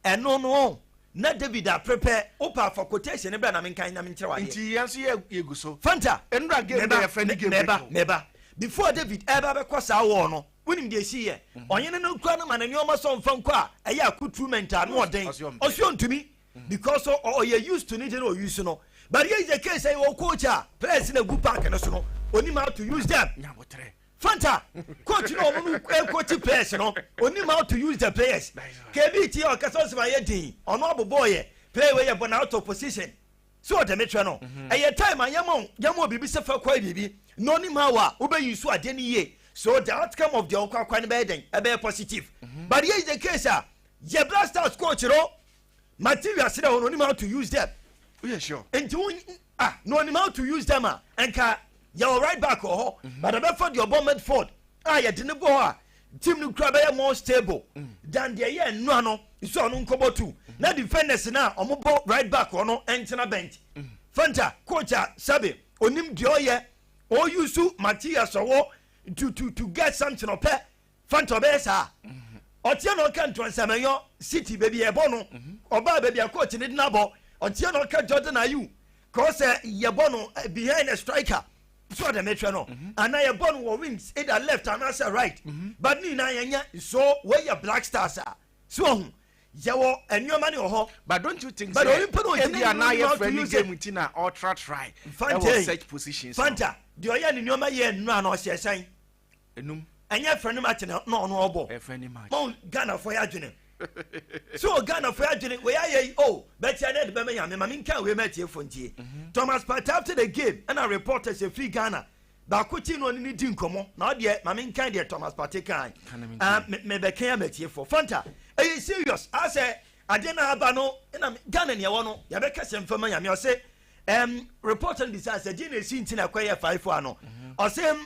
ɛno no ɔn na David apre pɛ opaa fa quotation no bra na menkan na menkyerɛ wo adeɛ. Nti yɛn nso yɛ yɛ gu so. Fanta, Nnura game dɛ yɛfrɛ no game break no. Meba, meba, before David ɛɛba abɛkɔ saa war no, wonim deɛ ɛsii yɛ? Ɔhene no kura no ma no nneɛma sɛ ɔmfa nkɔ a ɛyɛ accoutrement a ano ɔden. Ɔse ɔntumi because ɔ, ɔ, ɔyɛ used to ne deɛ na ɔ use no. But here is the case, sɛ yɛwɔ coach a players no agu park no so no, ɔnim how to use them. Nya aboterɛ. Fanta, coach no a wɔn no coach players no, onim how to use the players. Kebi ti a ɔkasa ɔsɛ ma yɛ den, ɔno abobɔ yɛ, player wei yɛ bɔ na out of position. So ɔde me kyerɛ no, ɛyɛ time a yɛma yɛma obi bi sɛ fa kɔ biribi na onim how a wobɛ use adeɛ no yie. So the outcome of deɛ ɔkɔ akɔ no bɛyɛ dɛn? Ɛbɛyɛ positive. But here is the case a, yɛ Black Stars coach no, materials dɛ hɔ no onim how to use them woyɛ sure nti wo ah na onim how to use them a nka yɛwɔ right back wɔ hɔ mhm. but ɛbɛfa deɛ ɔbɔ medford a yɛde ne bɔ hɔ a team no kura bɛyɛ more stable mm. than deɛ ɛyɛ nnua no nso ɔno nkɔbɔ tu mm. na defenders no a wɔn bɔ right back wɔ no ntena bench mm. fanta coach a sɛbi onim deɛ ɔyɛ ɔyusu materials ɔwɔ to to to get something ɔpɛ Fanta ɔbɛyɛ saa a ɔteɛ na ɔka Ntorɔnsamanyɔ City baabi a yɛbɔ no ɔbaa baabi a coach ne dena bɔ ɔteɛ na ɔka Jordan Ayew kɔɔ sɛ yɛbɔ no eh, behind the striker so ɔdɛ mehwɛ no mhm. anaa yɛbɔ no wɔ wings either left anaasɛ right mhm. but ne nyinaa yɛnyɛ so wɔyɛ black stars a so ɔho yɛwɔ nneɛma ne wɔ hɔ. but don't you think say ebi a na yɛ fɛ ni game ti na ɔtra try ɛwɔ such positions. fanta deɛ ɔyɛ ne nneɛma yɛ nnura na ɔhyɛ sɛn. enum. ɛnyɛ ɛfɛ nim akyene na ɔno ɔbɔ ɛfɛ nim akyene mɔn ghana fɔ yɛ adwene so wɔ ghana fɔ yɛ adwene wɔ yɛ ayɛ yi o bɛtia ne ɛde bɛmɛ nyame maame nka wei mɛ tie fo ntie mhm. thomas party after the game ɛna reporters efiri ghana baako ti na ɔne ne di nkɔmɔ na ɔdeɛ maame nka deɛ thomas party kan mɛ bɛ kɛn mɛ tie fo fanta ɛyɛ serious asɛ adeɛ na aba no ɛna ghana ni ɛwɔ no yɛbɛ kɛse nfɛmɛ nyame ɔse ɛm reporter no bi sɛ asɛ deɛ na esi nti na ɛkɔ yɛ faifo ano mhm. ɔse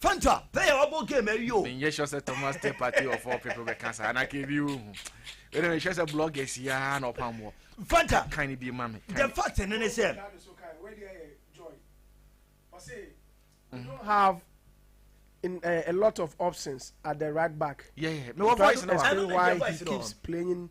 Fanta pɛ yɛ ɔbɔ game awie o. menyɛ sure sɛ thomas te party of all people bɛka saa na kɛ bi wohu wɛdɛ mehwɛ sɛ bloggers yaa na ɔpa mmoɔ fanta kan ne bi ma me the fact ne ne sɛ mm. don't have in, uh, a lot of options at the right back. Yeah, yeah. My voice now. Why he keeps playing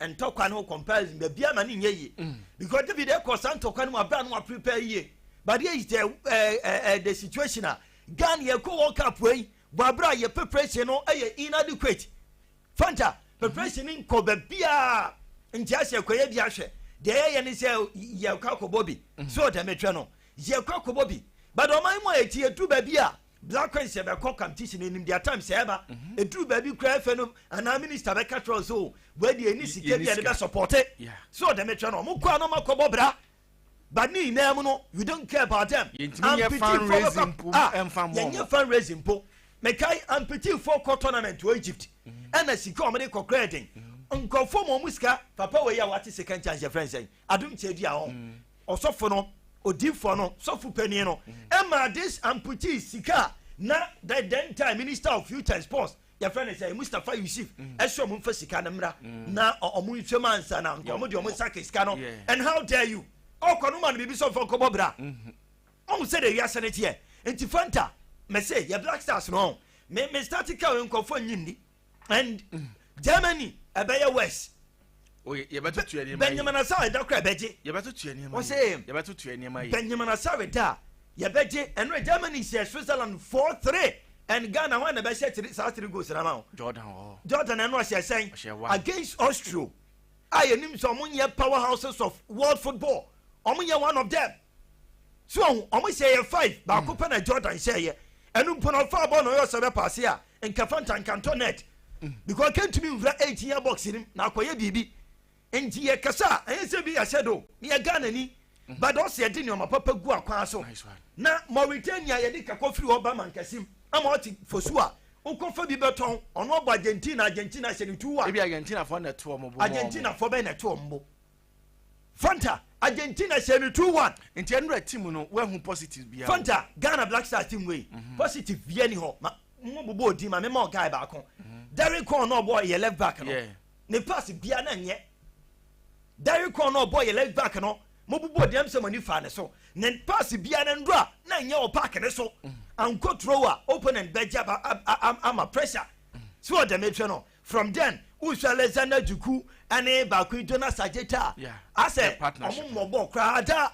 ntɔkwa no ho comparison baabi ama ne nyɛ yie mm. because david ɛkɔ saa ntɔkwa no mu abira no aprepare yie but yɛ yitɛ ɛɛ ɛɛ the situation a ghana yɛ kɔ world cup wei bɔ abira yɛ preparation no ɛyɛ inadequate fanta preparation no nkɔ baabiara nti asɛ kɔ yɛ bi ahwɛ deɛ yɛ yɛ ne sɛ yɛ kɔ akɔbɔ bi mm. so ɔtɛ mɛtwɛ no yɛ kɔ akɔbɔ bi but ɔman mu a yɛ ti yɛ du baabi a. Black coins yɛ bɛ kɔ competition no enim deɛ time sɛ ɛba mhm. eduru baabi kura efe no anaa minister bɛ ka kyerɛ ɔsɛ o wei deɛ ɛni sika bi a ne bɛ support so ɔdɛm etwa no ɔmo kɔ ano ɔmo akɔ bɔ bra but ne nyinaa mu no we don't care about them ampitifoɔ bɛ kɔ a yɛn nyɛ fan raising mpo mɛkae ampitifoɔ kɔ tournament wɔ egypt ɛna mhm. sika ɔmo de kɔ kura ɛden mhm. nkurɔfoɔ mu ɔmo sika papa wei a wate second chance yɛ fɛn sɛn Adom kyɛ di a ɔ. Ɔsɔfo no, odiyifoɔ no, sɔfo panin no, ɛma this amputee sika a na the then time minister of youth and sports yɛfrɛ no sɛ Mustapha Yusuf ɛsɛ ɔmo nfa sika no mmra na ɔmo nhwɛ mu ansa na nka ɔmo de ɔmo nsa ka sika no and how dare you ɔkɔ no ma no biribi sɛ ɔmfa nkɔbɔ bra ɔmo sɛ de wiase no teɛ nti fanta mese yɛ black stars no me me start ka nkɔfoɔ nyi nni and germany ɛbɛyɛ west bɛnyamana sɛ ɛda kora ɛbɛgye ɔse bɛnyamana sɛ ɛda a yɛbɛgye ɛno germany hyɛ switzerland 4 3 and ghana hɔ na ɛbɛhyɛ saa three goals na ma wo jordan ɛno ɔhyɛ sɛn against austria a yɛnim sɛ ɔmo nyɛ power houses of world football ɔmo nyɛ one of them so ɔho ɔmo hyɛ yɛ five baako pɛ na Jordan hyɛ yɛ ɛnu mpo na ɔfa bɔɔl na ɔyɛ ɔsɛ bɛ paase a nka fanta nka ntɔ net because ɔka ntumi nfura eighteen yɛ box nim na akɔyɛ biribi nti yɛ kasa a ɛyɛ sɛ bi yɛ hyɛ do ne yɛ Ghana ni but ɔsɛ yɛ de nneɛma papa gu akwan so na Mauritania yɛ de kakɔ firi hɔ ba mankɛsim ama ɔte fosu a wokɔfa bi bɛtɔn ɔno ɔbɔ Argentina Argentina hyɛ ne tu wa ebi Argentina fɔ na ɛto ɔmo bo Argentina fɔ bɛn na ɛto ɔmo bo. Fanta Argentina hyɛ no two one. Nti ɛnora team no woahu positive biaa wɔ mu. Fanta Ghana Black Stars team wei positive biaa ni hɔ ma mo bobɔ odin ma me ma ɔguy baako Derrick Kwon na ɔbɔ yɛ left back no ne pass biaa na nyɛ Derrick Kwon na ɔbɔ yɛ left back no mo bobɔ odin am sɛ mo ani faa ne so ne pass biaa na nora na nyɛ wɔ park ne so ankɔ turo a opponent bɛgye aba ama pressure sɛ ɔdɛmetrɛ no From then wohwɛ Alexander Dzuku ɛne baako yi Jonas Adjetah yeah. asɛ ɔmo mmɔ bɔɔl koraa ada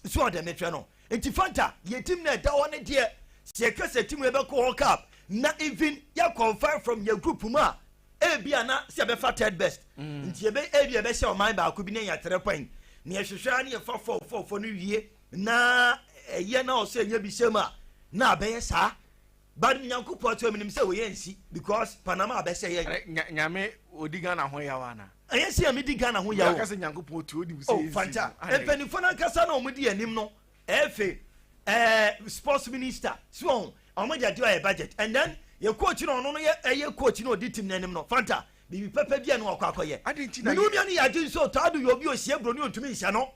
nso ɔdɛ mehwɛ no nti Fanta yɛ team na ɛda hɔ ne deɛ sɛ yɛka sɛ team yɛbɛkɔ hɔ cup na even yɛ qualify from yɛ group mu a ebi a na sɛ yɛbɛfa third best mm. nti yɛbɛ ebi yɛbɛhyɛ ɔman baako bi na yɛ three point na yɛhwehwɛ ara ne yɛfa four four four no wie na ɛyɛ na ɔsɛ yɛ bi hyɛ mu a na abɛyɛ saa But Nyankopɔn to eminim sɛ oyɛ nsi because Panama abɛsɛ yɛ. Eh, nya, nyame odi Ghana ho yaw ana? Ɛyɛ sɛ yɛn di Ghana ho yaw. Yɛaka sɛ Nyankopɔn to onim sɛ oh, yɛ nsi. Oh, fanta. Mpanyinfoɔ no ankasa na wɔn di anim no. Efe, eh, sports minister. So wɔn, wɔn de adi ɔyɛ budget. And then yɛ coach na ɔno no yɛ ɛyɛ coach na odi team n'anim no. Fanta, biribi pɛpɛ bi a na ɔkɔ akɔyɛ. Mene onua no yɛ agye nso ɔtɔ ado yɛ obi osie buroni ontumi nhyɛ no.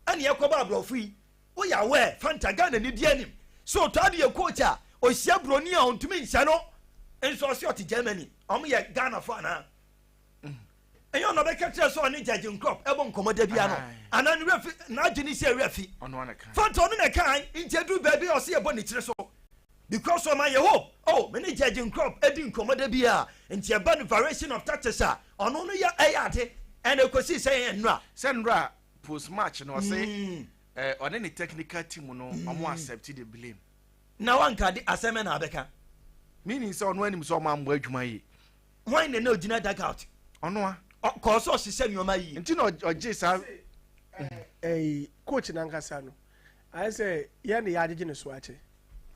Ɛne ɛkɔba aborɔfo yi. Woyɛ aware Fanta Ghana ni di anim sɛ ɔtɔ adeɛ coach a ɔhyia broni a ɔntumi nhyɛ no nso ɔse ɔte Germany ɔmo yɛ Ghana fo anaa ɛnyɛ ɔna ɔbɛka kyerɛ sɛ ɔne Jurgen Klopp ɛbɔ nkɔmɔ da bia no anaa ne werɛ fi n'adwene sɛ werɛ fi Fanta ɔno na ɛka an nti ɛduru baabi a ɔse yɛbɔ ne tiri so because ɔma yɛ hope oh me ne Jurgen Klopp ɛdi nkɔmɔ da bia nti ɛba no variation of tactics a ɔno no yɛ ɛyɛ ade ɛna ɛkɔsii sɛ yɛyɛ nnora. Sɛ nnora a post match no ɔse ɔne eh, ne technical team no ɔmo accept the blame na wanka de asɛm na abɛka meaning sɛ ɔno anim sɛ ɔmo ammɔ adwuma yie hwan na na ogyina duck out ɔno a ɔkɔɔ sɛ ɔhyehyɛ nneɛma yie nti na ɔgye saa ɛyi coach nankasa no ayɛ sɛ yɛn de yɛagyegye ne so akyɛ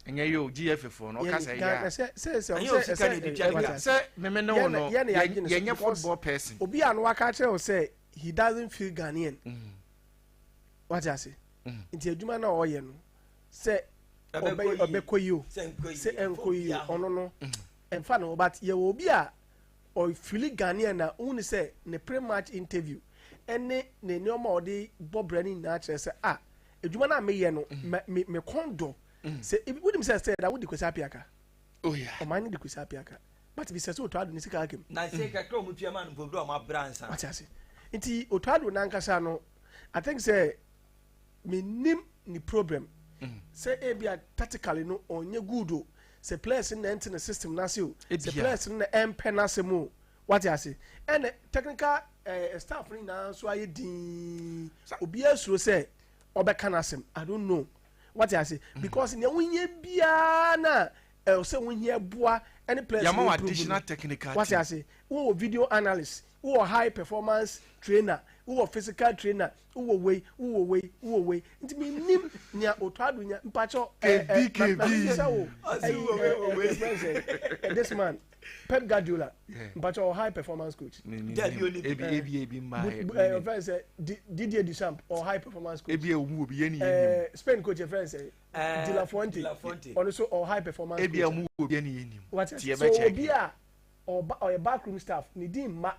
ɛnyɛ yɛ o gye fefo no ɔka sɛ yɛ sɛ sɛ sɛ sɛ sɛ meme ne wo no yɛnyɛ football person obi a no waka kyerɛ wo sɛ he doesn't feel Ghanaian wate ase nti adwuma no a ɔyɛ no sɛ ɔbɛkɔ yi o sɛ ɛnkɔ yi o ɔno no ɛmfa no but yɛwɔ obi a ɔfili Ghanaian na wohu ne sɛ ne pre match interview ɛne ne nneɛma a ɔde bɔ brɛ no nyinaa kyerɛ sɛ a adwuma no a meyɛ no mekɔn dɔ sɛ wonim sɛ sɛ da wode kwasi apiaka Oh yeah. Ɔman no de kusi apiaka. But bi sɛ sɛ otu ado ne sika akem. Na se kakra ɔmo tua ma no mpo bi ɔmo abra nsa. Wate ase. Nti otu ado nankasa no I think sɛ menim ne problem. Mm. Sɛ ebi a tactically no ɔnyɛ good o. Sɛ players no na ɛnte ne system n'ase o. Sɛ players no na ɛmpɛ n'asɛm o. Wate ase. Ɛna technical eh, staff no nyinaa nso ayɛ dinn. Obiara suro sɛ ɔbɛka n'asɛm. I don't know. wate ase mm. because nea wohia biara na ɛwɔ sɛ wohia boa ɛne players yɛma wɔ additional technical wate ase wowɔ video analyst wowɔ high performance trainer wowɔ physical trainer wowɔ wei wowɔ wei wowɔ wei nti mi nim nea otɔ ado nya mpatsɔ ɛɛ ɛɛ na mi sɛ wo ɛyi ɛɛ ɛɛ this man. Pep Guardiola mpakyɛ ɔ high performance coach. Dabi oni bi. Ebi ebi ebi mma yɛ. Ɛ ɔ fɛn sɛ Didier Deschamps ɔ high performance coach. Ebi ewu obi yɛ ni yɛ ni. Ɛ Spain coach yɛ fɛn sɛ De La Fuente ɔno so ɔ high performance coach. Ebi ewu obi yɛ ni yɛ ni. Wati ase so obi a ɔba ɔyɛ backroom staff ne di mma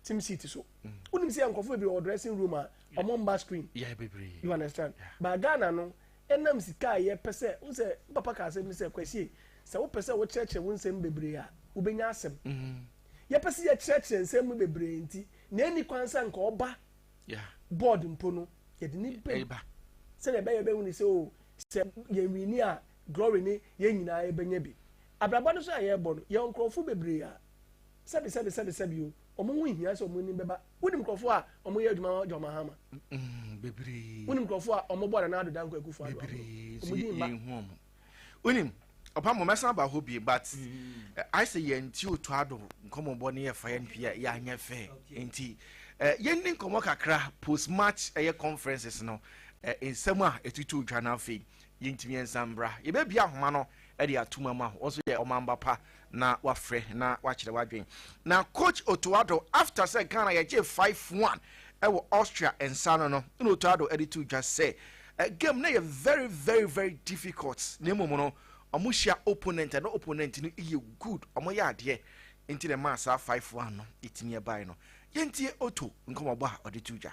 team seat so. Wonim sɛ yɛ nkɔfo bebree wɔ dressing room a ɔmo mma screen. Yɛ bebree. You understand? Ba Ghana no Ɛnam sika a yɛpɛ sɛ, wohu sɛ me papa ka asɛm bi sɛ, Kwasie, sɛ wopɛ sɛ wokyerɛkyerɛ wo nsɛm mu bebree a, wobɛnya asɛm. Yɛpɛ sɛ yɛkyerɛkyerɛ nsɛm mu bebree nti, nea ɛnni kwan sɛ anka ɔba board mpo no, yɛde no ba sɛnea ɛbɛyɛ a yɛbɛhu no sɛ, oh, sɛ yɛnwini a, glory ne yɛn nyinaa yɛbɛnya bi. Abrabɔ no so a yɛrebɔ no, yɛwɔ nkurɔfo bebree a sɛbi sɛbi sɛbi sɛbi o wɔn ho nhia sɛ wɔn anim bɛba wonim nkurɔfoɔ a wɔn yɛ adwuma wɔn ma hama mm, bebree wonim nkurɔfoɔ a wɔn bɔ nana ado danko akufo ado bebree wɔn di mma wonim ɔpa mo mɛsan ba hɔ bie but mm. eh, ayɛ sɛ yɛn ti otu ado nkɔmmɔbɔ ne yɛfa yɛn hwɛ yɛ anyɛ fɛ nti eh, yɛn ni nkɔmmɔ kakra post match ɛyɛ conferences no eh, nsɛm a ɛtutu dwa no afei Yɛnti miɛnsa mbra, yɛbɛbie ahoma no de atom ama ho. Wo nso yɛ ɔmamba pa na wafrɛ na wakyerɛ w'adwen. Na Coach Otto Addo, after sɛ Ghana yɛgyee five one wɔ Austria nsa ano no, ɛna Otto Addo de too dwa sɛ, Game no yɛ very very very difficult, na mmom no, wɔhyia opponent a na opponent no yɛ good, wɔyɛ adeɛ, nti na ɛmaa saa five one no tumi baeɛ no. Yɛntie Otto nkɔmmɔbɔ a ɔde too dwa.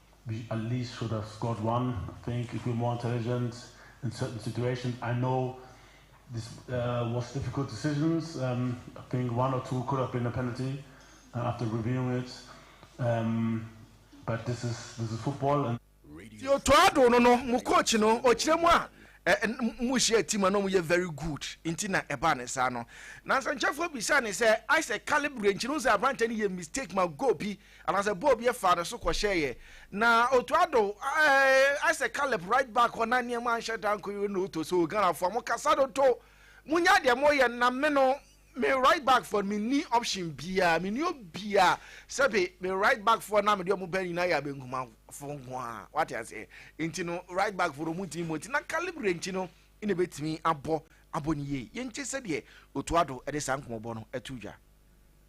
Be at least should have scored one I think if we're more intelligent in certain situations I know this uh, was difficult decisions um, I think one or two could have been a penalty uh, after reviewing it um, but this is this is football and Tiotoado no no mu coach no ɔkyerɛ mu a mu hyɛ team no mu yɛ very good nti na ɛbaa ne saa no na nsɛnkyɛfoɔ bisa ne sɛ ayɛ sɛ calibre nkyerɛ sɛ aberantɛ no yɛ mistake ma goal bi Anaasɛ bɔɔl bi faa ne so kɔhyɛeɛ, na Otu Addo, ayɛ sɛ Caleb right back hɔ na nneɛma anhyɛ da nkɔ yie na Otu sɛ, oh Ghanafoɔ mo kasa dodo, monyɛ deɛ moreyɛ no na me no me right back foɔ no menni option biara, menni obiara, sɛbe me right back foɔ no a mede wɔn ba nyinaa yɛ abenkumafoɔ nko ara, wate aseɛ, nti no right back foɔ no wɔntumi mmɔ nti na calibre nti no na ɛbɛtumi abɔ abɔ ne yie. Yɛntie sɛdeɛ Otu Addo de saa nkɔmmɔbɔ no to dwa.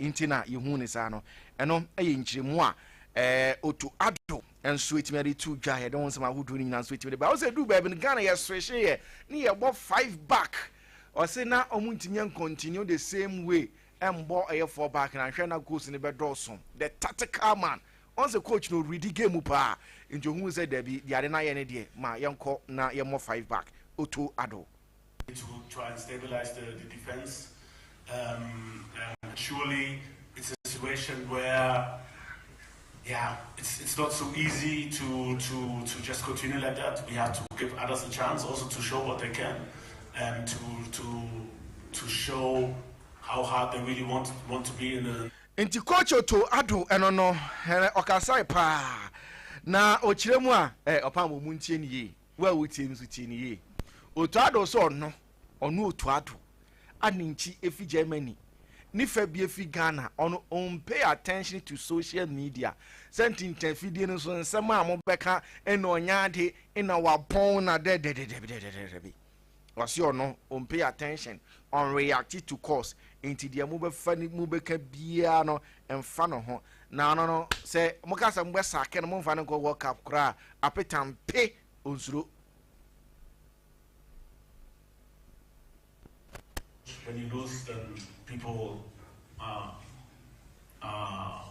nti na yɛhu ne saa no ɛno yɛ nkyerɛmu a ɔtu ado nso ɛtumi ade tu dwa yɛde ho nsɛm ahodoɔ no nyinaa nso ɛtumi de ba wo sɛ duu baabi no ghana yɛserehyeeɛ ne yɛbɔ five back ɔse na ɔmo ntumi yɛn continue the same way ɛmbɔ ɛyɛ four back na nhwɛ na goals no bɛdɔɔso the tactical man ɔn sɛ coach no ɔredi game mu paa nti ɔhu sɛ dabi deade no ayɛ ne deɛ ma yɛnkɔ na yɛmmɔ five back ɔtu ado Ntsi Kotso to Addo no no, hɛn ɔkasaae paa, na ɔkyerɛ mu a, ɔpam wɔ mu ntsie no yie. Wo a wotie no nso, tie no yie. Otu ado sɛ ɔno, ɔno otu ado, a ne nkyi efi Germany, ne fa bi efi Ghana, ɔno ɔn pay attention to social media, sɛ ntintan fidie no so nsɛm a mobɛka nna ɔnyɛ ade nna wabɔn na dɛdɛdɛdɛbidɛdɛdɛbi. Ɔse ɔno on pay attention, on reacti to calls nti deɛ mo bɛfa ne mo bɛka biaa no nfa no ho na ɔno no sɛ mo ka sɛ mo bɛ sake no mo nfa no nkɔ world cup koraa apeta mpe onsuro. When you lose then people will ah ah.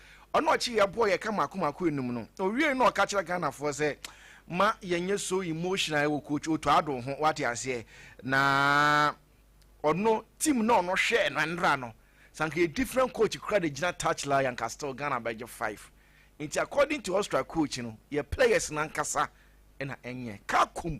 Ɔna ɔkye yɛ boɔ yɛka mako mako enum no owiei na ɔka kyerɛ Ghana foɔ sɛ ma yɛnyɛ so emotional ɛwɔ coach Otto Addo ho wate aseɛ na ɔno team na ɔno hwɛɛ no ɛnra no sɛ anka yɛ different coach kora de gyina touch la yɛ anka still Ghana bɛgye five nti according to Austria coach no yɛ players no ankasa ɛna ɛnyɛ Kakum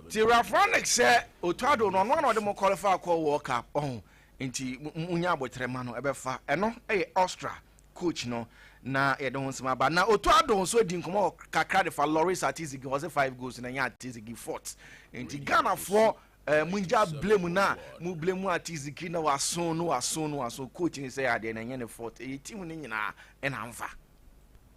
Nti Rafranik sɛ Otado no ɔno ara na ɔde mo kɔlifaa kɔɔ World Cup ɔho nti mo nya aboterɛ mma no ɛbɛfa ɛno ɛyɛ Austria coach no na yɛde ho nsɛm aba na Otado nso adi nkɔmɔ kakra de fa Loris Atizigi ɔse five goals no ɛnyɛ Atizigi fort nti Ghanafoɔ eh, mo ngya blame no a mo blame Atizigi na waso no waso no waso coach no sɛ adeɛ no ɛnyɛ ne fort ɛyɛ team no nyinaa ɛna nfa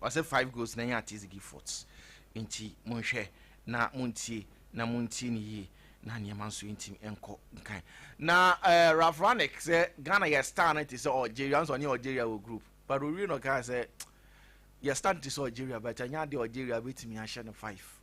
Ɔse five goals na ɛnyɛ Artiste Giffords nti monhwɛ na montie na montie no yie na nneɛma nso ntim nkɔ nkan na eh, Ralph Rangnick sɛ Ghana yɛ star no te sɛ Algeria nso ɔne Algeria wɔ group but owie na ɔkaa sɛ yɛ star no te sɛ Algeria but ɛnyɛ adeɛ Algeria bɛtumi ahyɛ no five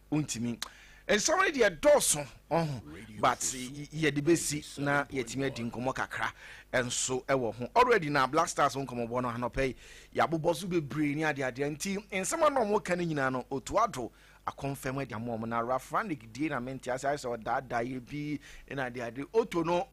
wontumi nsɛm no deɛ dɔɔso ɔho but yɛde bɛsi na yɛtumi adi nkɔmmɔ kakra nso ɛwɔ ho already na black stars ho nkɔmmɔbɔ no anɔpɛ yi yɛabobɔ so bebree ne adeadeɛ nti nsɛm a na ɔmo ka no nyinaa no otuado akɔmfam adi ama ɔmo na rafranik die na mente ase ayɛ sɛ ɔdaadaa yɛ bi na adeade oto no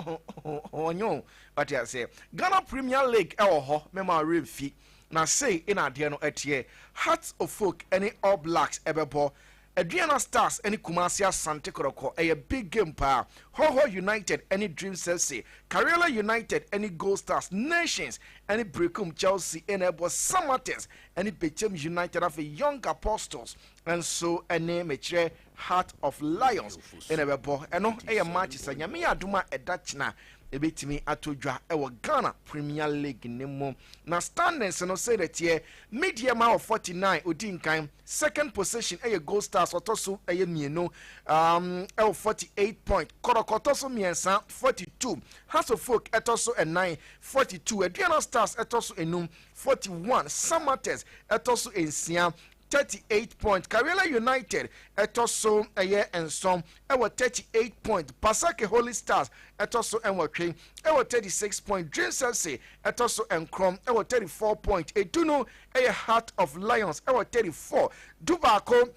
ɔnyo ɔte aseɛ ghana premier league ɛwɔ hɔ mɛma ɔwerɛ mfi Na sei na adeɛ no teɛ, Hearts of Oak ne All Blacks bɛbɔ, Aduana Stars ne Kumasi Asante Kɔrɔkɔ, ɛyɛ big game paa, Hohoh United ne Dreams FC, Kariola United ne Gold Stars, Nations ne Berekum, Chelsea na ɛbɔ, Samatex ne Bechem United, afei Young Apostles nso ne Mekyerɛ. Heart of Lions na ɛbɛbɔ. Ɛno yɛ match sɛ Nyame yɛ adom a ɛda kyena a ɛbɛtumi atɔ dwa wɔ Ghana Premier League no mu. Na standings no sei na ɛteɛ, Media ma wɔ 49 ɔdi nkan, second position yɛ Gold Stars ɔtɔ so ɛyɛ mmienu um, ɛwɔ 48 point, Kɔrɔkɔ tɔ so mmiɛnsa 42, Haso Folk ɛtɔ so ɛnan 42, Aduana Stars ɛtɔ so enum 41, Samatex ɛtɔ so nsia thirty eight points. Karela United ɛtɔ so ɛyɛ nson ɛwɔ thirty eight points. Basake Holy Stars ɛtɔ so nwɔtwe ɛwɔ thirty six points. Dreams FC ɛtɔ so nkron ɛwɔ thirty four points. Edu no ɛyɛ Heart of Lions ɛwɔ thirty four. Du baako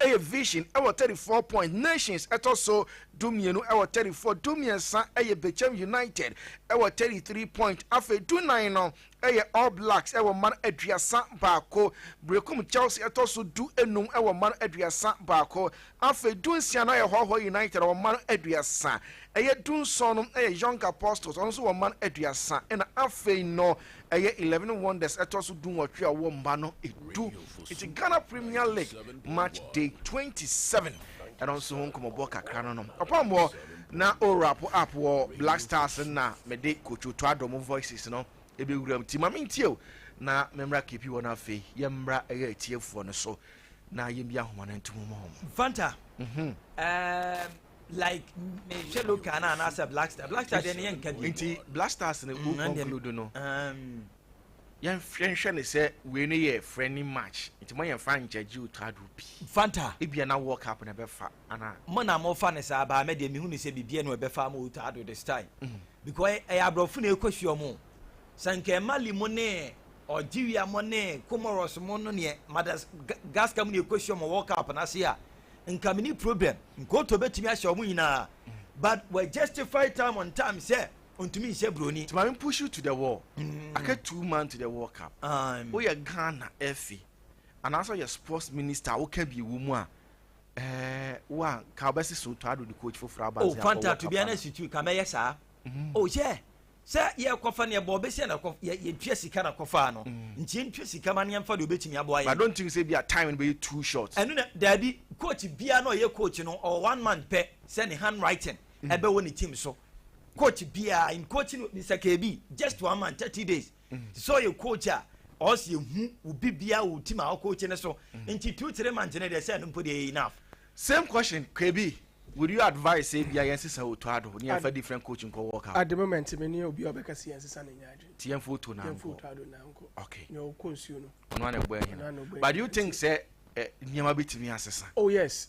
ɛyɛ Vision ɛwɔ thirty four points. Nations ɛtɔ so du mmienu ɛwɔ thirty four. Du mmiɛnsa ɛyɛ Bechem United ɛwɔ thirty three points. Afei du nan no yɛ All Blacks wɔ mma no aduasa baako, Berekum Chelsea ɛtɔ so du nnum wɔ mma no aduasa baako, afei du nsia no ayɛ Hɔhoɔ United wɔ mma no aduasa, ɛyɛ du nson no yɛ Young Apostles ɔno nso wɔ mma no aduasa ɛna afei no ɛyɛ Eleven Wonders ɛtɔ so du nwɔtwe a ɔwɔ mma no du. Nti Ghana Premier League match day twenty seven ɛno nso ho nkɔmmɔbɔ kakra no no. Ɔpɔnmɔ Na o rap app wɔ black stars no na me de coach to adɔ mo voices no ɛbɛ wura mu ti ma me ntie o na me mmra kepi wɔ no afei yɛ mmra ɛyɛ atiefoɔ no so na yɛ mbi ahoma no ntomu ma wɔn. Fanta mhm um, like me hwɛ local na anaasɛ black star black star deɛ ne yɛ nka bi nti black stars no mm, o conclude no um, Yɛnhwɛ nhwɛ no sɛ wei no yɛ friendly match nti ma yɛmfa ngyagye otado bi. Fanta. Ebia na World Cup na ɛbɛfa anaa? Mo na mofa no saa but me deɛ mehu no sɛ biribiara na ɛbɛfa ama otado this time because ɛyɛ aborɔfo na ɛkɔhyia wɔn. Sɛ anka Mali mo ne Algeria mo ne Comoros mo no neɛ Madagascar mo na ɛkɔhyia wɔn wɔ World Cup no ase a nka menni problem. Nkoto bɛtumi ahyɛ wɔn nyinaa but wɔajustify time on time sɛ Ɔntumi nhyɛ broni. Nti maame push you to the wall aka two man to the world cup woyɛ Ghana ɛfi anaasɛ ɔyɛ sports minister a woka bi wɔ mu a ɛɛ wo a nka wobɛse Soto Addo de coach foforɔ aba nse akɔ world cup Fanta to be an institute ka mɛyɛ saa o hyɛ sɛ yɛkɔfa no yɛbɔ bɛsi na yɛtua sika na kɔfaa no mm. nti yɛntua sika ma no yɛmfa deɛ ɔbɛtumi aboa yɛ I don't think sɛ bi a time no bɛyɛ too short ɛno na daabi coach bia na ɔyɛ coach no ɔwɔ one month pɛ sɛ ne handwriting ɛbɛwɔ ne team so coach biara in coaching mr kebi just one month thirty days so yɛ coach a ɔsi ehu obi biara wɔ team a ɔcoach ne so nti two three months ne deɛ sɛ ɛno mpo deɛ enough. same question kebi would you advise sɛ ebia yɛn sisa otu ado ne yɛn fa different coach nkɔ world cup. at the moment mi ni obi a ɔbɛka si yɛn sisa na nya adwene. ti yɛn fo otu na nkɔ okay nea ɔkɔ nsuo no. ɔno ana ɛbɔ ɛhina but do you think sɛ nneɛma bi tumi asesa. oh yes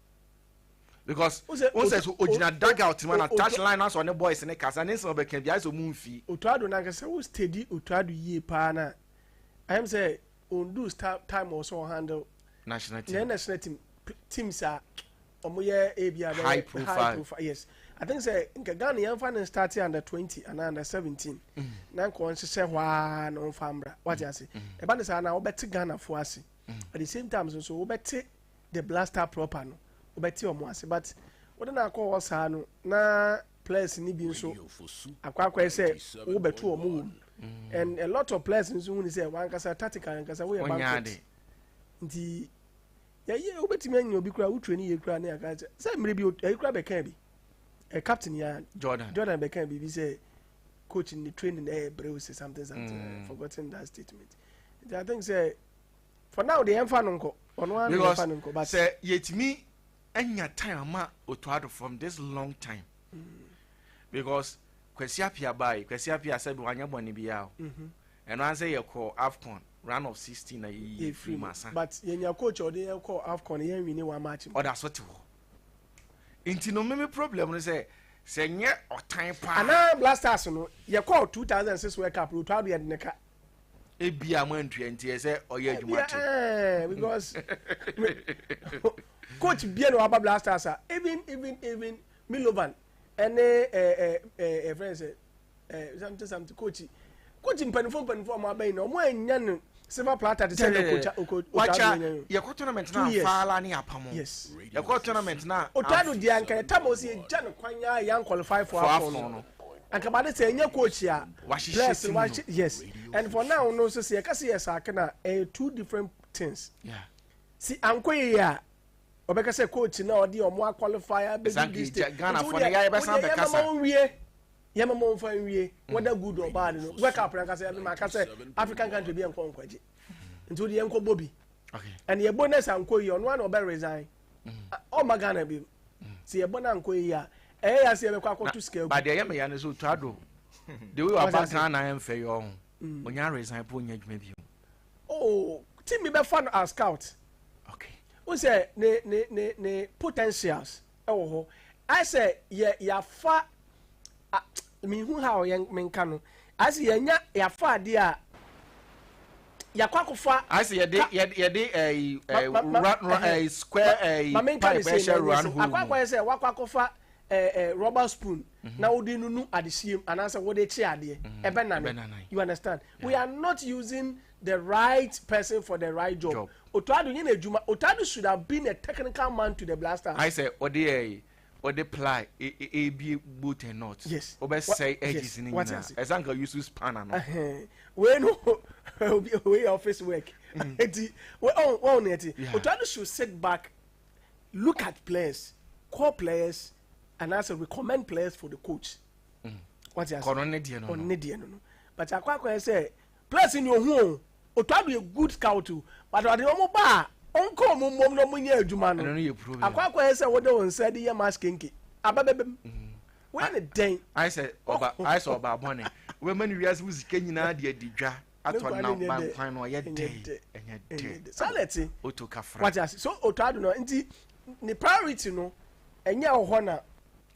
because o sɛ so ogyina dugout mu na touch line na sɔ ne boys ne kasa ne nsɛm ɔbɛka biara sɛ ɔmu nfi. otuado nankasa wo steady otuado yie paa na ayɛm sɛ ondu time ɔsɛ ɔhandle national team national team team saa ɔmo yɛ ebi abɛ high profile yes i think sɛ nka ghana yɛn fa ne start under twenty and under seventeen mm. na nka wɔn hyehyɛ hɔ aa na wɔn fa mmra wate ase ɛba ne saa na wɔbɛte ghana fo ase mm. at the same time nso wɔbɛte. the blaster proper no wobɛte ɔmo ase but wode no akɔ hɔ saa no na players ni bi nso akɔ akɔyɛ sɛ wobɛto ɔmo wɔ mu mm. and a lot of players nso hu ne sɛ wankasa tactical ankasa woyɛ banquet nti yɛyɛ wobɛtumi anya obi kora wotwe ne yɛ kora ne aka sɛ sɛ mmerɛ bi ɛyi kora bɛka bi ɛ captain ya jordan jordan bɛka biribi sɛ coach ne training ɛyɛ brɛ o sɛ something something mm. forgotten that statement nti i think sɛ for now deɛ yɛmfa no nkɔ ɔno ara na yɛmfa no nkɔ but sɛ yɛtumi anya time ama otuado from this long time mm. because kwasi apia baayi kwasi apia sɛbi wanyɛ bɔne biara o mhm. ɛno ara sɛ yɛkɔ afcon round of sixteen na yɛyi firi mu asa but yɛnya coach ɔde yɛn kɔ afcon yɛn wini one match mu ɔda so te hɔ nti no mimi problem no sɛ sɛ nyɛ ɔtan paa anaa blasters no yɛkɔ two thousand six world cup otuado yɛ de ne ka ebia mo antua nti ɛsɛ ɔyɛ adwuma te eh, because coach bia na waba blasters a even even even milovan ɛne ɛfrɛ sɛ something something coach coach mpanimfoɔ mpanimfoɔ ɔmo abɛn na ɔmo anya no silver platter te sɛ de kocha wacha yɛkɔ tournament na afaala ne apam yes yɛkɔ tournament na otado di ankara tam o si egya no kwan ya yan qualify for afɔn no anka ma de sɛ ɛnyɛ coach a wahyehyɛ team no yes and for now no nso sɛ yɛka sɛ yɛ saa kana ɛyɛ two different things yeah. si ankɔ yie a ɔbɛka sɛ coach na ɔde ɔmo aqualify abɛdi this day nti wo deɛ wo deɛ yɛma ma wo nwie yɛma ma wo nfa nwie mm. whether good or bad no wake up na nkasa yɛma aka sɛ african country bi yɛ nkɔ nkɔgye nti wo deɛ yɛnkɔ bɔ bi ɛne yɛbɔ ne sɛ ankɔ yie ɔno a na ɔbɛ resign ɔma mm. oh, ghana bi sɛ yɛbɔ no ankɔ yie a ɛyɛ ya sɛ yɛbɛkɔ akɔto sika agu. ba deɛ ɛyɛ me ya no sɛ ɔtwa do de wei ɔba ghana ɛmfɛ yɛ ɔho ɔnya aresan po ɔnya adwuma bio oh ti mi bɛfa no as scout okay n sɛ ne ne ne ne potentials ɛwɔ hɔ ayɛ sɛ yɛ yafa mehu ha ɔyɛ menka no ase yɛnya yɛafa adeɛ a yɛakɔ akɔfa ase yɛde yɛde ɛyi ɛyi square ɛyi pipe ɛhyɛ round hole mu akɔ akɔyɛ sɛ wakɔ akɔfa ɛɛ ɛɛ rubber spoon mhm. na wode nunu adehyeɛ mu anaasɛ wode kye adeɛ mhm. ɛbɛ nane you understand we are not using the right person for the right job otado nyɛ na adwuma otado should have been a technical man to the blaster. ayi sɛ ɔde ɛyi. wɔde ply ebie boat and not yes wɔbɛsɛe edges ne nyinaa ɛsɛ anka use spanner no wei no wei office work mm. eti wɔn wɔn na ɛte otuado should sit back look at players call players and as a recommend players for the coach wɔte ase ɔno ne deɛ no ɔno ne deɛ no no but akɔ akɔ yɛ sɛ Place ni ohun o, Otuado yɛ good scout o, but ɔde wɔn ba a, ɔnkɔ wɔn mmom na wɔnyɛ adwuma no. Akɔ akɔyɛ sɛ wode wo nsa de yɛ mask kenke, aba bɛbam. Woyɛ no dɛn? Ayɛ sɛ ɔba, ayɛ sɛ ɔba bɔne. Wobɛma ne wiase mu sika nyinaa de adi dwa atɔ nam ba nkwan no, ɔyɛ dɛ, ɛnyɛ dɛ. Saa na ɛte. Oto kafra. Wate ase. So Otuado no, nti ne priority no, ɛnyɛ ɛwɔ hɔ na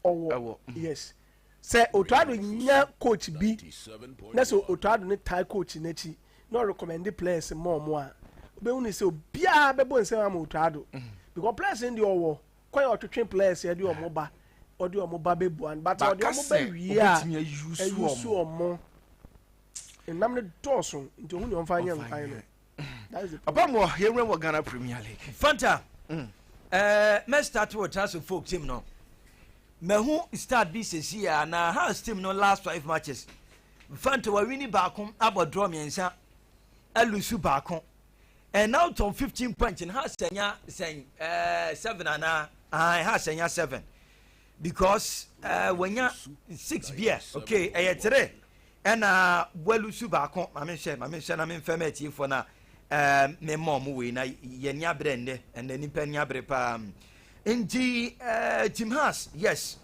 ɔwɔ. Ɛwɔ. Yes. Sɛ Ottoaddo nya coach bi na sɛ Ottoaddo no tie coach no akyi na ɔrecommende players ma wɔn a, wobɛhu no sɛ obiara bɛbɔ nsam ama Ottoaddo because players no deɛ ɔwɔ kwan a ɔtwetwe players a ɛde wɔn ba ɔde wɔn ba bɛbua no but ɔde wɔn ba wie a ayusu wɔn. Nnam no dɔɔso nti ɔhu deɛ ɔmfa nyɛ nkwan no. ɔbɛn wɔ yɛn wɔ ghana premier league. fanta mm. ɛɛ mɛ start wɔ transfer folk team no mɛhu start bi sisi a na house team no last five matches fanta wɔ wini baako abɔ draw mmiɛnsa ɛlusu baako and now tom fifteen points and house sɛnya sɛn ɛɛ seven ana ɛɛ house sɛnya seven because ɛɛ wɔnya six beer okay ɛyɛ three Ɛna Boalu su baako, ma me nhwɛ, ma me nhwɛ na me nfɛ ma atiefoɔ na ɛɛm me mma ɔmo wei na yɛ ni abrɛ nnɛ, ɛnna nipa ni abrɛ paa. Nti ɛɛ Tim Haas, yes,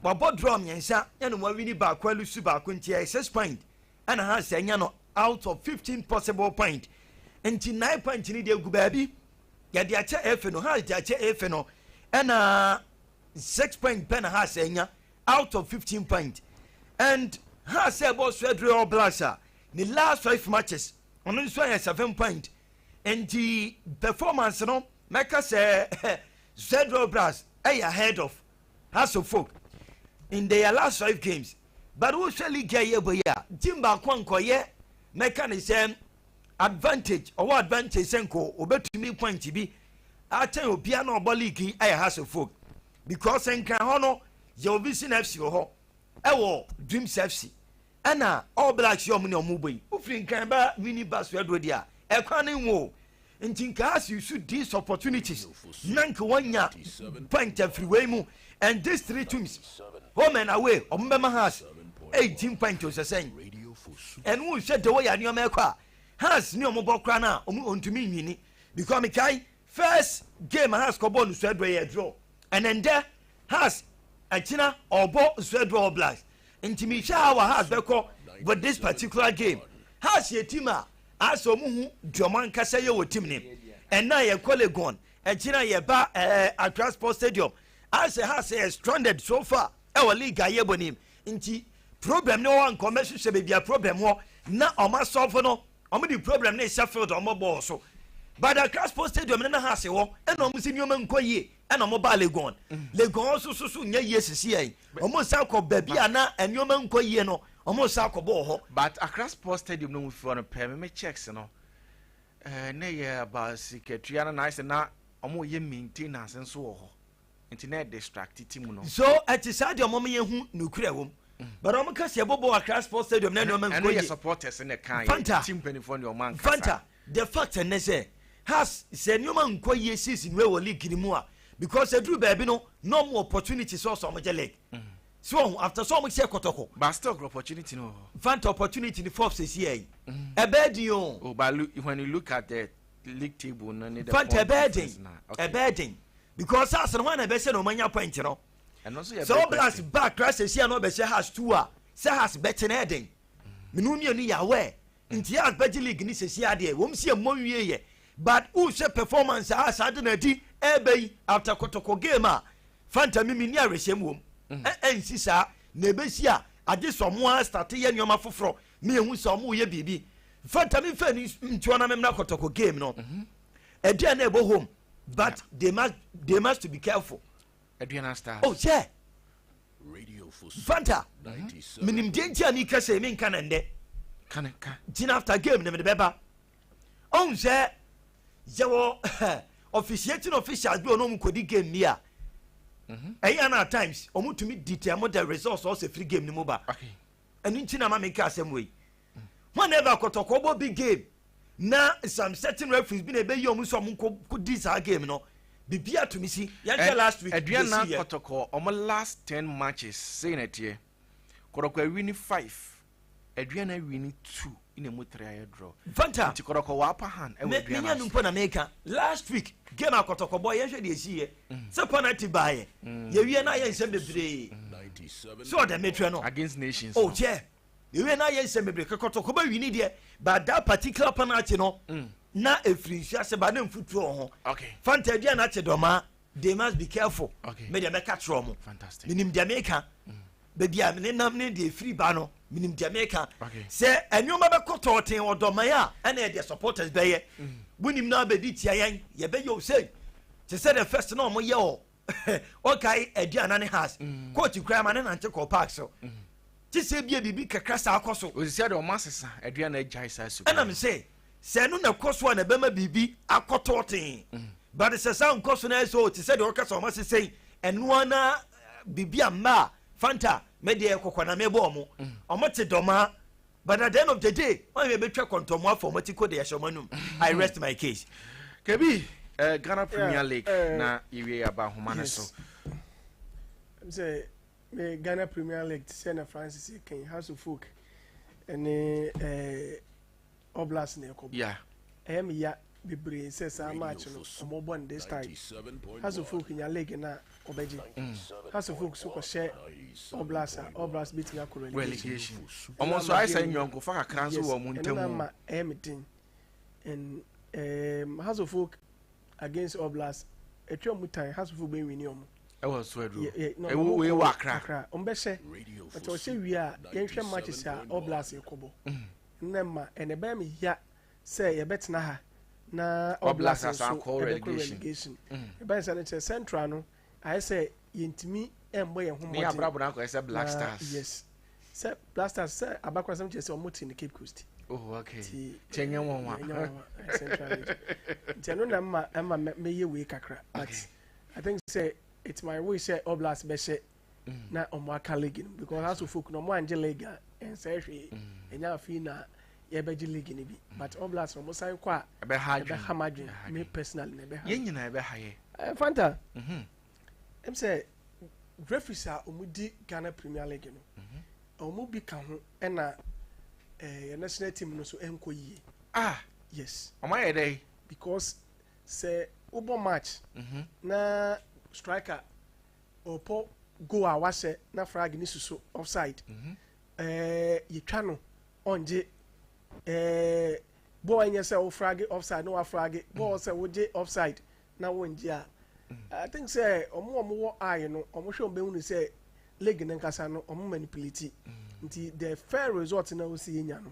wabɔ draw mmiɛnsa ɛna wawini baako alu su baako nti ɛyɛ six point ɛna Haas anya no out of fifteen possible point nti nine point ni deɛ gu baabi yɛde akyɛ efe no Haas de akyɛ efe no ɛna six point pɛ na Haas anya out of fifteen point and Hearts a ɛbɔ so aduru All Blacks a ne last five matches ɔno nso ayɛ seven point nti performance no mɛka sɛ Zed All Blacks ɛyɛ ahead of Hearts of Oak in their last five games but wohwɛ league a yɛbɔ yi a team baako a nkɔyɛ mɛka ne sɛ advantage ɔwɔ advantage sɛ nkɔ obɛtumi point bi akyɛn obia na ɔbɔ league yi ɛyɛ Hearts of Oak Because nkran hɔ no yɛ obi si na fc wɔ hɔ ɛwɔ dreams fc ɛna all blacks yɛ ɔmo nea ɔmo bɔ yi. Wofiri nkran ba winnie bus so aduro deɛ a ɛkwan no nwo o nti nka as you should these opportunities na nka wanya point afiri wei mu and these three teams home and away ɔmo bɛma has 18 point o sɛsɛn ɛno wohwɛ the way a nneɛma ɛkɔ a has ne ɔmo bɔ koraa no a ɔmo ɔntumi nwini because mekae First game a Hearts kɔbɔɔ no Nsua Adua yɛɛ draw, ɛna ndɛ Hearts akyina ɔɔbɔ Nsua Adua All Blacks ntsi mehwɛ how a Hearts bɛkɔ with this particular game. Hearts yɛ team a aasɛ ɔmo hu dza ɔmo ankasa yɛ wɔ team nim. Nna yɛkɔ Legon, akyina yɛba ɛɛ Accra Sports Stadium, aasɛ Hearts yɛ stranded so far. Ɛwɔ league a yɛbɔ nim nti problem ne wɔn nkɔ mɛ hwehwɛ baabi a problem wɔ na wɔn asɔfo no wɔn de problem ne hyɛ field wɔn bɔɔl so but Accra Sports Stadium ne na ha ase wɔ ɛna wɔn si nneɛma nkɔ yie ɛna wɔn baa Legon Legon wɔn soso so nyɛ yie sisi yɛn wɔn nsa kɔ baabi a na nneɛma nkɔ yie no wɔn nsa kɔ bɔɔl hɔ. But Accra Sports Stadium no mu fi hɔ no pɛɛ me me checks no ɛɛ eh, ne yɛ aba sikatua no na ayɛ sɛ na wɔn yɛ maintenance nso wɔ hɔ. Nti na ɛdistracti ti mu no. So ɛte saa deɛ ɔmɔma yɛ hu nukurɛ wɔ mu? Mm. But ɔmo ka si ɛbɔ bɔɔl Accra Sports Stadium na nneɛma nkɔ yie. Ɛno yɛ supporters na ɛka yɛ team mpanyinfoɔ na ɔmo ankasa. Fanta the fact ɛnɛ sɛ has sɛ nneɛma nkɔ yie season wei wɔ league ni mu a because ɛduru baabi no na ɔmo opportunity sɛ ɔsɔ ɔmo gye league. Mm. So ɔho after so ɔmo hyɛ kɔtɔkɔ. But still ɔkɔ opportunity no. Fanta opportunity ni Forbes esi yɛ yi. Ɛbɛɛ di o. Oh but when you look at the fanta ɛbɛyɛ den ɛbɛyɛ den because as no hɔ na ɛbɛhyɛ na ɔmanya point no sɛ wo blacks ba kra sɛsi a na ɔbɛhyɛ has two a sɛ has bɛkye na ɛden mene wo mmienu yɛ awɛ nti has bɛgye league ne sɛsi adeɛ wɔm si ɛmmɔ nwie yɛ but wohwɛ performance a saa de na adi ɛbɛ yi after kotoko game a fanta mimi ne awerɛhyɛm wɔm ɛnsi saa na ɛbɛsi a agye sɛ ɔmo a starte yɛ nneɛma foforɔ Me ehu sɛ ɔmo yɛ biribi. Mfata me nfa ni ntua na me mra kɔtɔkɔ game no. Mhm. Ɛdeɛ na ɛbɔ home but they must they must to be careful. Aduana stars. Oh yeah. Mfata. Mhm. Me nim deɛ nti a mi kɛ sɛ mi nka na ndɛ. Ka ne ka. Gyina after game ne me de bɛ ba. Ɔn sɛ yɛ wɔ officiating officials bi wɔ na ɔmo kɔ di game bi a. Mhm. Ɛyɛ na at times ɔmo tumi di tɛ mo the results ɔsɛ free game ni mo ba. Okay. ɛno nti na ama meka asɛm wei hwan na ɛba kɔtɔkɔ bɔ big game na some certain referees bi na ɛbɛyi ɔmo sɛ ɔmo nkɔ di saa game no bibi atumi si yɛn kyɛ last week aduan na kɔtɔkɔ ɔmo last ten matches sɛyi na ɛteɛ kɔtɔkɔ awi ni five aduan na awi ni two na emu tere ayɛ dorɔ. Fanta. Nti kɔdɔkɔ wa pa han ɛwɔ aduan no ase. Menu mpo na meka. Last week game a kɔtɔkɔ bɔ yɛnhwɛ deɛ ɛsii yɛ. Sɛ penalty baa yɛ. Yɛwie na ayɛ nsɛm bebree. So ɔdɛ metrɛ no. Against nations no. Oh kyɛ. Yɛwie na ayɛ nsɛm bebree. Ka kɔtɔkɔ bɛ wini deɛ. But that particular penalty no. Na ɛfiri nsuo ase ba na mfutuo wɔ ho. Okay. Fanta aduan no akye dɔmaa. They must be careful. Okay. Me deɛ mɛka kyerɛ ɔmo. Fantastic. Menim deɛ meka. baabi a menenam ne deɛ ɛfiri ba no menim deɛ meka sɛ nneɛma bɛkɔ tɔɔten ɔdɔman a ɛna ɛdeɛ supporters bɛyɛ mm. wonim no abɛdi tia yɛn yɛbɛyɛ o sei te sɛ the first na ɔmoyɛ ɔ ɔkae aduana ne has mm. coach koraa ma ne nante kɔ park so mm. te sɛ bia biribi kakra saa kɔ so ɛnam sɛ Sɛ ɛno na ɛkɔ so a, na ɛbɛma biribi akɔ tɔɔtee. But sɛ saa nkɔ so na ayɛ sɛ o, te sɛ deɛ ɔka sɛ wɔn ase sɛn, ɛno ara na biribi a mma a, Fanta, me deɛ kɔkɔ na mebɔ wɔn. Wɔn te dɔmaa. But at the end of the day, wɔn a yɛbɛtwa kɔntɔnmu afa wɔn ti ko de ahyɛ wɔn anum. I rest my case. Kebi, eh, Ghana Premier League yeah, uh, na yɛwie yɛaba ahoma no so. Sɛ me Ghana Premier League te sɛ na Francis Ken House of Folk ne eh, Oblast na ɛkɔ bɔ. Ɛyɛ me ya bebree sɛ saa match no ɔmo bɔ no this time. Hasso Folk nya league no a ɔbɛgye. Hasso Folk so kɔ hyɛ Oblast a Oblast betumi akɔ relegation. Ɔmo nso ayɛ saa nyɔnkofa kakra nso wɔ ɔmo ntɛm. Ɛno na ama ɛyɛ me den. And um, Hasso Folk against Oblast ɛtwa ɔmo tan Hasso Folk bɛ wini ɔmo. Ɛwɔ so aduro. Ɛwɔ wei wɔ akra. Akra ɔmo bɛhyɛ. Ɔtɛ ɔhyɛ wie a yɛnhwɛ matches a Oblast kɔ bɔ. Nnɛ mma ɛna ɛbɛyɛ me ya sɛ yɛbɛtena ha na All Blacks nso ɛbɛkɔ relegation. Ɛba ne saa no sɛ Central no ayɛ sɛ yɛntumi mmɔ yɛn ho mmɔden. Ne abrabɔ no akɔyɛ sɛ Black Stars. Yes. Sɛ Black Stars sɛ abakorasɛm kyerɛ sɛ wɔte no Cape Coast. Oh okay. Ti kyɛ nyɛ wɔn wa. Nyɛ wɔn wa Central region. Nti ɛno na mma ɛma mɛyɛ wei kakra. But I think sɛ it's my wish sɛ All Blacks bɛhyɛ na ɔmo aka league no because aso folk na ɔmo angye league a ɛnsɛ hwee ɛnya afei na yɛbɛgye league no bi but all blacks ɔmo san kɔ a ɛbɛha ma adwene me personally na ɛbɛha yɛn nyinaa ɛbɛha yɛ eh, fanta mhm. ɛm sɛ referees a ɔmo di ghana premier league no mhm. ɔmo bi ka ho ɛna ɛɛ eh, national team no so ɛnkɔ yie ah yes ɔmo ayɛ dɛ because sɛ wobɔ match mhm. na striker Ɔpɔ goal a wahyɛ na frag ne suso offside. Mm -hmm. eh, yɛtwa no ɔngye eh, bɔɔl ɛnyɛ sɛ wo frag offside na wafrag bɔɔl mm. sɛ wogye offside na wongye a mm. I think sɛ ɔmo ɔmo wɔ eye no ɔmo hwɛ ɔmo bɛhu no sɛ league no nkasa no ɔmo manipulate mm. nti the fair result na wosi yɛ nya no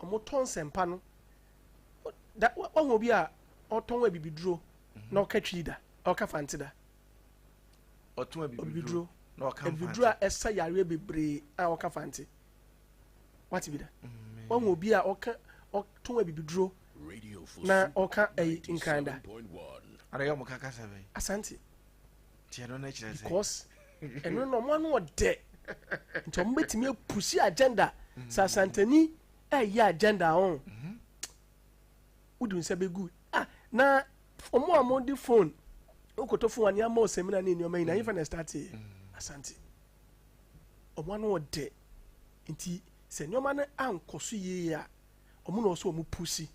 wɔtɔ nsɛmpa no da wɔn obi a ɔtɔn abibiduro mhm. na ɔka twi da ɔka fante da ɔtɔn abibiduro na ɔka fante abibiduro a ɛsa yareɛ bebree a ɔka fante wate bi da mhm. wɔn obi a ɔka ɔtɔn abibiduro na ɔka ɛyi nkran da. ana yɛ ɔmo ka kasa bɛyi. asante. because ɛno no ɔmo ano ɔdɛ nti ɔmo bɛtumi apusi agenda sɛ asantani ɛyɛ agenda ho wodi nsa bɛgu ah na ɔmo a ɔmo de phone wokoto phone ani ama ɔsɛmina ne nneɛma nyinaa yɛfa na ɛstate asante ɔmo ano ɔdɛ nti sɛ nneɛma no ankɔ so yie a ɔmo na ɔsɛ ɔmo pusi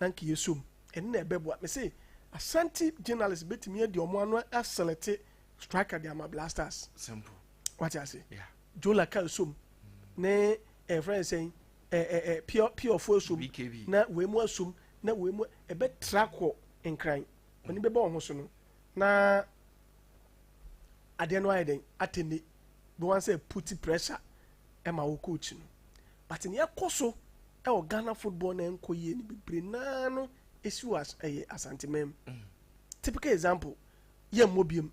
na nka yɛsom ɛno na ɛbɛboa me se asanti journalist bɛtumi adi ɔmo ano aselete striker de ama blasters simple wate ase yeah. jola ka som ne ɛfrɛ eh, sɛn eh, eh, pure pure fo som na wei mu asom na wei mu ɛbɛtra kɔ nkran ɔne bɛbɔ ɔho so no na adeɛ no ayɛ dɛn atɛnne bɛwan sɛ puti pressure ɛma wo coach no But nea ɛkɔ so wɔ Ghana football na ɛnkɔ yie no bebree no ara no si wɔ as ɛyɛ Asanteman mu. Mm. Typical example, yɛmmɔ biem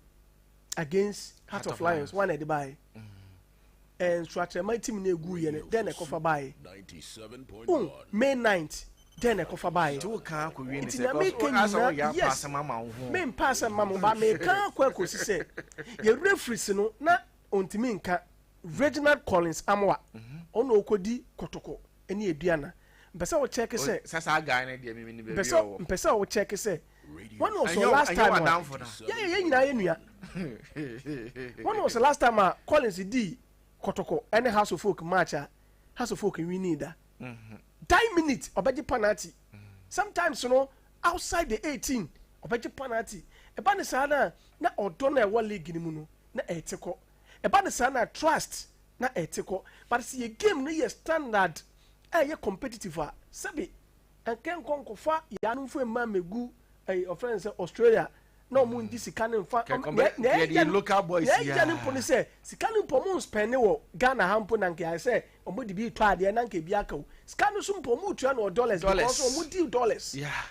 against Heart of Lions, wɔn na ɛde baeɛ. Mm. Nsoakyerɛma tim no ɛgu yɛ no, dɛn na ɛkɔfa baeɛ? Um, May 9th, dɛn na ɛkɔfa baeɛ? Nti na meka nyinaa, yes, mempaa sɛ mma mo ba, meka akɔ akɔsi sɛ yɛ referees no na Ontumi nka Reginald Collins Amoah ɔno na ɔkɔdi kotoko ne aduana mpɛ sɛ wo check sɛ Sasa guy no deɛ mimi ni baabi a ɔwɔ mpɛ sɛ wo check sɛ wɔn na ɔsɔ last time a yɛ yɛ yɛ nyinaa yɛ nua wɔn na ɔsɔ last time a Collins di kotoko ɛne House of Folk match a House of Folk winning da die minute ɔbɛgye penalty sometimes no outside the 18 ɔbɛgye penalty ɛba ne saa na na ɔdɔ na ɛwɔ league no mu no na ɛte kɔ ɛba no saa na trust na ɛte kɔ but sɛ yɛ game no yɛ standard a ɛyɛ competitive a sɛbi ɛnkɛ nkɔ nkɔfa yɛ anomfo mma megu ɛyɛ ɔfrɛ no sɛ Australia na ɔmo ngye sika no mfa Kɛ- kɔmpɛ- na yɛde ɛgya no local boys na ɛgya yɛ no a. mpo no sɛ sika no mpo ɔmo nspɛne wɔ Ghana ha mpo na nka ayɛ sɛ ɔmo de bi retɔ adeɛ na nka ebi aka o sika no so mpo ɔmo retua no wɔ dollars Dollars. because ɔmo di dollars Yeah.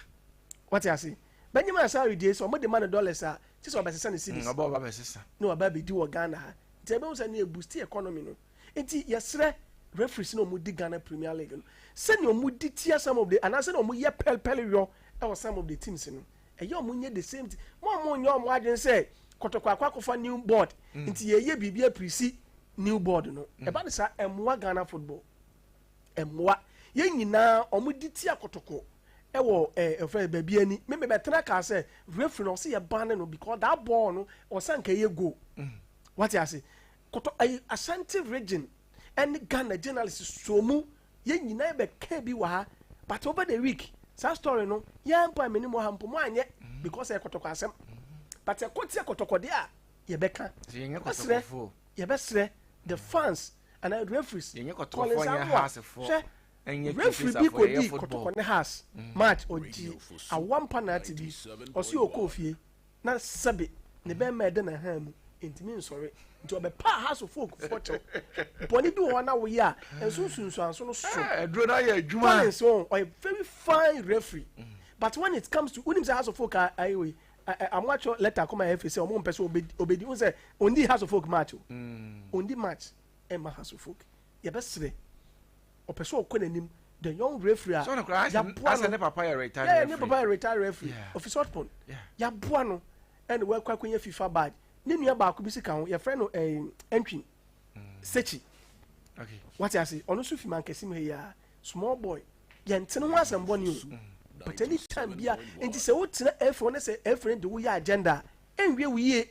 wate ase Benjamin Asare deɛ sɛ ɔmo de ma no dollars a kyerɛ sɛ ɔbɛsesa no cedis. Ɔbɛ ɔba bɛsesa. Na waba abɛdi wɔ Ghana ha nti ɛbɛhu sɛ ne ɛbusti economy no nti yɛsrɛ referees na ɔmo di Ghana Premier League no sɛnea ɔmo di tia some of the anaa sɛnea ɔmo yɛ pɛl pɛl yɔ ɛwɔ some of the teams no ɛyɛ ɔmo nyɛ the same thing mo ɔmo nyɛ ɔmo adwene sɛ kɔtɔkɔ akɔ akɔfa new board nti yɛyɛ biribi apirisi new board no ɛba ne saa ɛmoa Ghana football. mmoa. Yɛn nyinaa, wɔde ti akotoko wɔ eh, ɛfrɛ eh, baabi ani. Me mebɛtena kaa sɛ referee no ɔsɛ yɛ ban no because that ball no ɔsɛ nka ɛyɛ goal. Mm. Wate ase? Koto ayi eh, Ashanti region ɛne Ghana journalist so mu yɛn nyinaa bɛka bi wɔ ha but over the week saa story no yɛn mpo a menim wɔ ha mpo mo anyɛ mm. because ɛyɛ kɔtɔkɔ asɛm mm. but ɛkɔ ti akɔtɔkɔde a yɛbɛka yɛbɛsrɛ yɛbɛsrɛ the mm. fans anaa referees Collins Amoah hwɛ referee bi kɔdii kɔtɔkɔ ne Hearts mm. match ɔgye awa mpa naate bi ɔse ɔkɔɔ fie na sɛbe ne mm. bɛrima ɛda na ha mu ntumi nsɔre nti ɔbɛpa ahasofo okufoɔ kyɛw bɔne bi wɔ hɔ na woyɛ a ɛnso nsunsuanso no so Collins ɔyɛ very fine referee but when it comes to wonim sɛ ahasofo ka ayɛ wei ɛ ɛ ɔmo atwerɛ lɛta akɔma yɛ efiri sɛ ɔmo mpɛ sɛ ɔbɛ ɔbɛdi n sɛ ɔndi house of folk match o mm. ɔndi match ɛma house of folk yɛbɛsrɛ ɔpɛ sɛ ɔkɔ n'anim the young referee a yaboa no ne papa yɛ retired referee ne papa yɛ retired referee ɔfi sotpon yaboa no ɛna wakɔ akɔnya fifa badge ne nua baako bi si ka ho yɛfrɛ no ɛɛ ɛntwi sechi wate ase ɔno nso fi mankɛse mu ha yi a small boy Yɛnte no ho asɛm bɔne o, but any time bia, nti sɛ wo tena ɛfoɔ ne sɛ ɛfiri de wo yɛ agenda a, ɛnwie wo yie.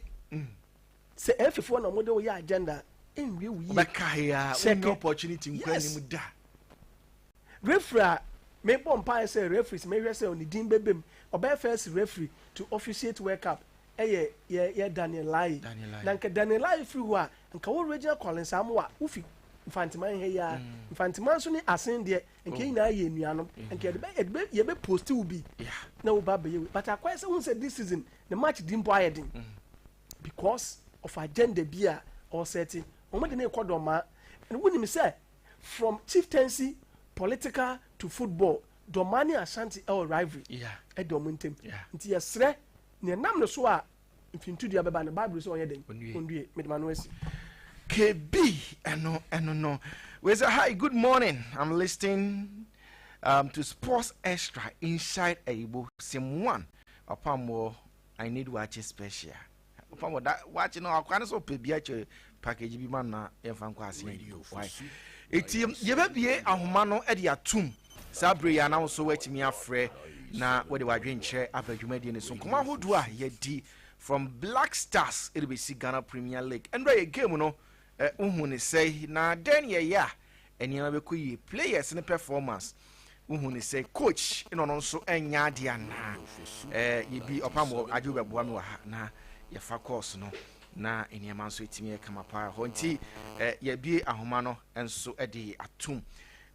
Sɛ ɛfifoɔ na ɔmo de wo yɛ agenda a, ɛnwie wo yie. Ɔbɛka he a, wonnya opportunity nkura anim da. Referee a mebɔ mpaeɛ sɛ referees mehwɛ sɛ ne din bɛbam, ɔbɛyɛ first referee to officiate World Cup yɛ yɛ yɛ danielai na nka danielai firi hɔ a nka wo regina collins amu wa wo fi nfanteman ha yi a mm. nfanteman nso ne asen deɛ nka yɛn oh. nyinaa yɛ anuanom mm-hmm. nka yɛde bɛ yɛde bɛ yɛbɛ post wo bi na wo ba bɛyɛ wei but akɔyɛ sɛ hun sɛ this season ne match di mpo ayɛ den mm. because of agenda bi a ɔsɛte wɔn de ne kɔ dɔmaa ɛna wonim sɛ from chieftaincy political to football dɔmaa ne ashanti ɛwɔ rivalry ɛdɔm ntɛm nti yɛsrɛ. Nea nam ne so a mfintudua bɛba no, Bible sɛ ɔnyɛ dɛn? Ɔndue. Mede ma no asi. KB, ɛno ɛno no. We say hi, good morning. I'm listening um, to Sports Extra inside Ayibo. Sim one, Opamo, I need watch special. Opamo, that watch no, akwa no so pebia che package bi ma na yɛmfa nkɔ ase yɛn do why eti yɛbɛbie ahoma no de atum saa bere yɛ anaw so watumi afrɛ na wɔde wadwenkyerɛ aba dwumadie no so nkɔmɔ ahodoɔ a yɛdi from black stars ɛde bɛsi ghana premier league ɛnura yɛ game no wohu ne sɛe na dɛn yɛyɛ a Nneɛma bɛkɔ yie. Players no performance wohu ne sɛ coach na ɔno nso ɛnyɛ adeɛ anaa eh, yɛdi ɔpam wɔ agye wobɛboa me wɔ ha na yɛfa course no na nneɛma nso ɛtumi yɛ kama paa hɔ nti eh, yɛbie ahoma no nso de atom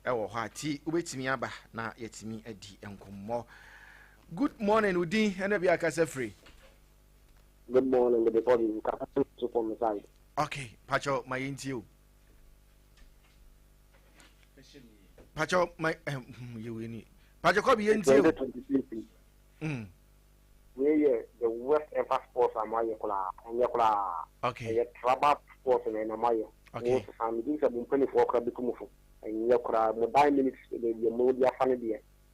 ɛwɔ hɔ a ti wobɛtumi aba na yɛtumi adi nkɔmmɔ good morning wo din ɛna bi akasa firi good morning mede bɔbi nka so from side okay pakyɛ ma yɛntie o pàtó ma ẹ yẹ wẹ ni pàtó kọ́ bi yẹn ti o. wei yɛ the worst ever sports a mo ayɛ koraa ɛnyɛ koraa ɛyɛ traba sports na ɛna mo ayɛ mo sesa mi di sɛ mo mpanyinfoɔ koraa bi tu mo fo ɛnyɛ koraa mo dan minutes na ebi mo di afa ne deɛ.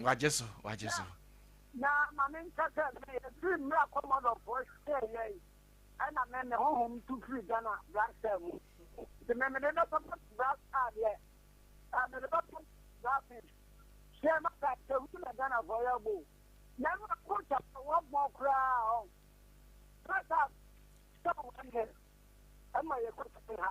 Wagye so, wagye so. Na ma me nkyɛ sɛ me efiri mmra kɔmɔdɔfoɔ hyɛ yɛn ɛna me me honhom tu firi Ghana brasa mu nti me me de bɛ papa brasa deɛ a me de bɛ papa brasa hyɛ ma ka sɛ hu na Ghana foɔ yɛ bo na ɛma ko kyɛ sɛ wɔ bɔ koraa ɔ brasa sɛ wɔ ɛnɛ ɛma yɛ kɔ sɛ ha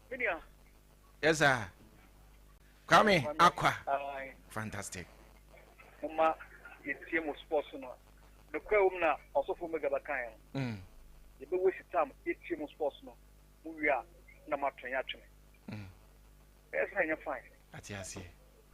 Media. Yes, sir. Kwame Akwa. Fantastic. Mama, yɛtie mo sports no. Nokora wom na ɔsɔfo mega bɛkaeɛ no. Mm. Yɛbɛwɔ si tam yɛtie mo sports no. Mo wie a na moatwe yɛatwene. Mm. Ɛyɛ sɛ ɛnyɛ fine. Ate aseɛ.